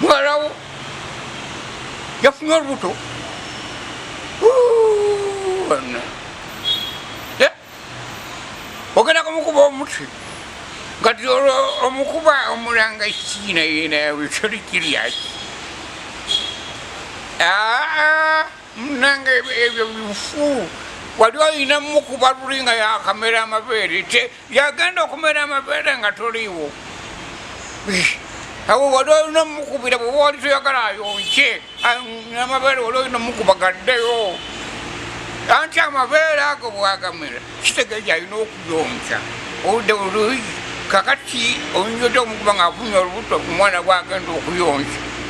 muwalawo yafunye olubuto ogenda kumukuba omutwe kati olwo omukuba omulanga kiina yena yawe kyoli kiryaki aa munanga ebyo bifu wali olina mukuba luli nga yakamera amabeere yagenda okumera amabeere nga toliiwo awo wali olina omukubira bwe wali toyagala ayonke amabeere wali olina omukuba gaddeyo anti amabeere ago bwagamera kitegeeza alina okuyonka oludde oluyi kakati oyinza ota omukuba ngaafunye olubuto omwana bwagenda okuyonka